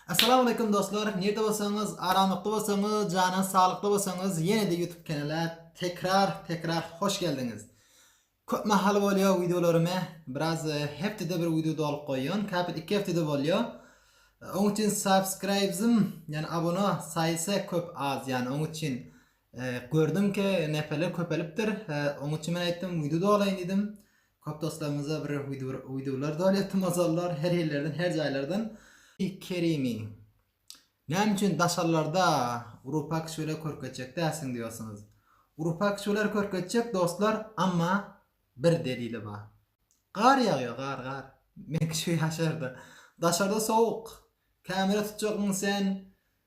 Assalamu aleykum dostlar. Nirde bolsaňyz, aramlykda bolsaňyz, janyňyz saglykda bolsaňyz, ýene-de YouTube kanala tekrar, tekrar hoş geldiňiz. Köp mahaly bolýar wideolarymy biraz e, hepdede bir wideo dolyp goýýan, käpir iki hepdede bolýar. E, oň üçin subscribes'im, ýani abona saýysy köp az, ýani oň üçin e, gördüm ki, neferler köpelipdir. Oň üçin men aýtdym, wideo dolaýyn diýdim. Köp dostlarymyza bir wide bir wideolar dolýapdy mazalylar her ýerlerden her jaýlardan. Kerimi. Näme üçin daşarlarda Urupak şöyle körkezjek dälsiň diyorsunuz. Urupak şöler körkezjek dostlar amma bir delili bar. Gar ýagýa gar gar. Meňki şu ýaşarda. Daşarda sowuk. Kamera tutjakmyň sen?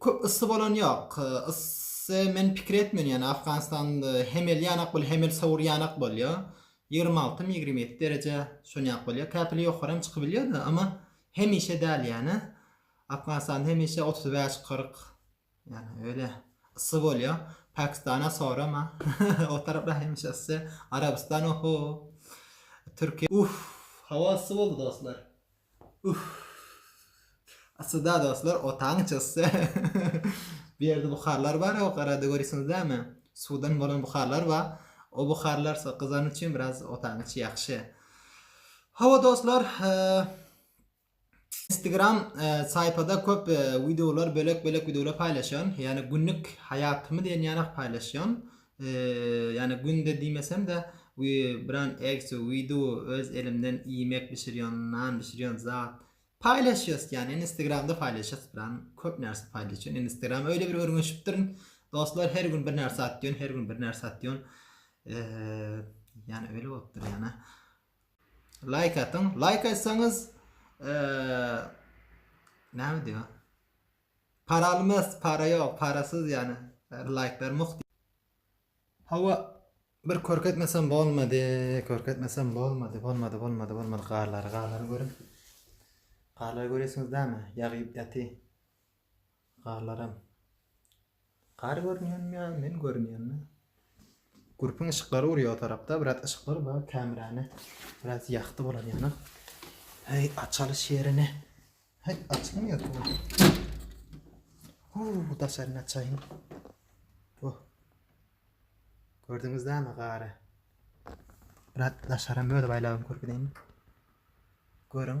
Köp yssy bolan ýok. Yssy men pikir etmen ýany Afganistan hemel ýanak bol hemel sowur ýanak bolýa. Ýigrimi alty my ýigrimi ýedi dereje şonýak bolýa. Käpili ýokary hem çykybilýada amma hemişe däl ýany. Afganistan hemişe otuz bäş kyrk ýani öýle yssy bolýa. Pakistana sorama o taraplar hemişe yssy. Arabystan oho. Türkiýe uff hawa yssy boldy dostlar. Uff. Aslynda dostlar otagyň içersde bu ýerde buharlar bar o garada görüsiňiz dämi? Suwdan bolan buharlar bar. O buharlar so gyzan üçin biraz otagyň içi ýagşy. Hawa dostlar, Instagram saýpada köp wideolar bölek-bölek wideolar paýlaşýan. Ýagny günlük haýatymy diýen ýanak paýlaşýan. Ýani günde diýmesemde biran egsi wideo öz elimden iýmek bişirýän nan bişirýän zat paýlaşýas ýani instagramda paýlaşýas biran köp närse paýlaşýan instagram öýle bir örňeşipdirin dostlar her gün bir närse atýan her gün bir närse atýan ýani öýle bolupdyr ýani laýk atyň laýk atsaňyz näme diýýär Paraly mes para ýok parasyz ýane laýk ber muht. Hawa bir körkezmesem bolmady körkezmesem bolmady bolmady bolmady bolmady garlary garlary görüň garlary göresiňiz dämi ýagyp ýaty garlaram. Gar görünýänmi ýa men görünýänmi? Gurpun yşyklary urýar o tarapda biraz yşyklar bar kämräni biraz ýakdy bolan ýaly. Heý açalyş ýerini. Heý açylmýar bu. Huu daşaryny açaýyn. Oh. Gördüňiz dämi gary? Biraz daşaram öz baýlagyny görkezeýin. Görüň.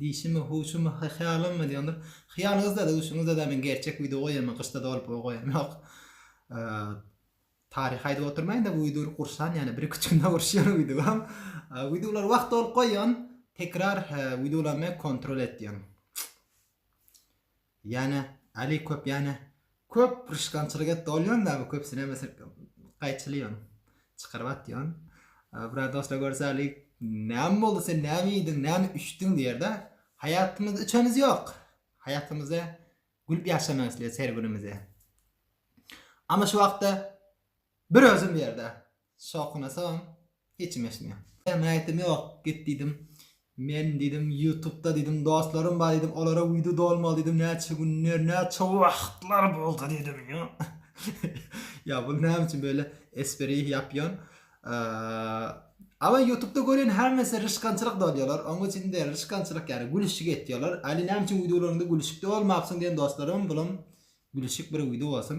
Dişimi huşumy hyýalymy diýondir hyýalyňyzda duşuňyzda men gerçek wideo goýaýma gyşda dolup o goýan ýok taryh aýdyp oturmaýyn da bu wideo gurşan ýaly bir iki üç günde gurşýan wideo wideolary wagt dolup goýan tekrar wideolamy kontrol et diýen. Ýane Ali köp ýane köp pyrşkançylyk etdi ol ýonda bu köpsüne mesel gaýçyly ýon çykaryp atýon biraz dostlar görse Ali näme boldy sen näme iýdiň näme üçdüň diýerde haýatymyzda üçemiz ýok haýatymyzda gülüp ýaşamak isleýäs her günümizi ama şu wagtda bir özüm ýerde Sokyna soň hiçim eşitmeýän. Ýa men aýtdym ýok git diýdim. Men diýdim ýutubda diýdim dostlarym bar diýdim olara wideo dolmaly diýdim näçe günler näçe wagtlar boldy diýdim ýa ýa bul näme üçin beýle esperi ýapýon Ama ýutubda gören hemmesi ryşkançylyk dolýalar oň üçin de ryşkançylyk ýaly gülüşik etýalar ali näme üçin wideolaryňda gülüşik dolmapsyň diýen dostlarym bulam gülüşik bir wideo bolsun.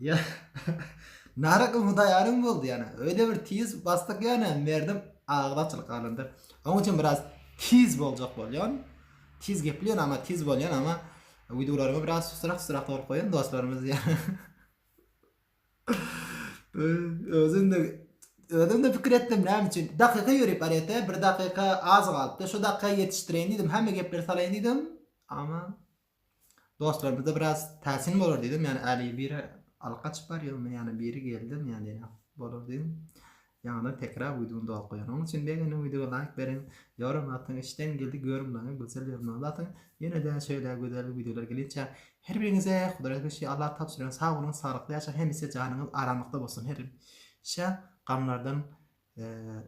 Ýa Naryk umudaýarym boldy ýana. Öýde bir tiz basdyk ýana Merdim agyz açylyp galandyr. Oň üçin biraz tiz boljak bolýan. Tiz geplýän ama tiz bolýan ama wideolarymy biraz susurak susurak bolup goýan dostlarymyz ýana. Özüm de özüm de pikir etdim näme üçin. Dakyka ýörüp barýata, bir dakyka az galypdy. Şu dakyka ýetişdireýin diýdim. Hemme gepleri salaýyn diýdim. Ama Dostlarymyzda biraz täsin bolar diýdim, ýani äli biri alyp gaçyp barýarmy, ýani biri geldim, ýani diýen bolar diýdim. Ýaňydan tekrar wideony doly goýan. Onuň üçin begendim wideoga laýk beriň. Ýoram atyň işden geldi görüm laňy gözel ýerine batyň. Ýenede şeýle gözel wideolar gelinçä her biriňize Hudaýa beşi Allah tabşyran sag boluň saglykly ýaşaň hemişe janyňyz aramlykda bolsun her şä gamlardan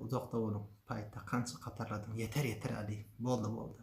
uzakda boluň paýta kança gatarladyň ýeter ýeter äli boldy boldy.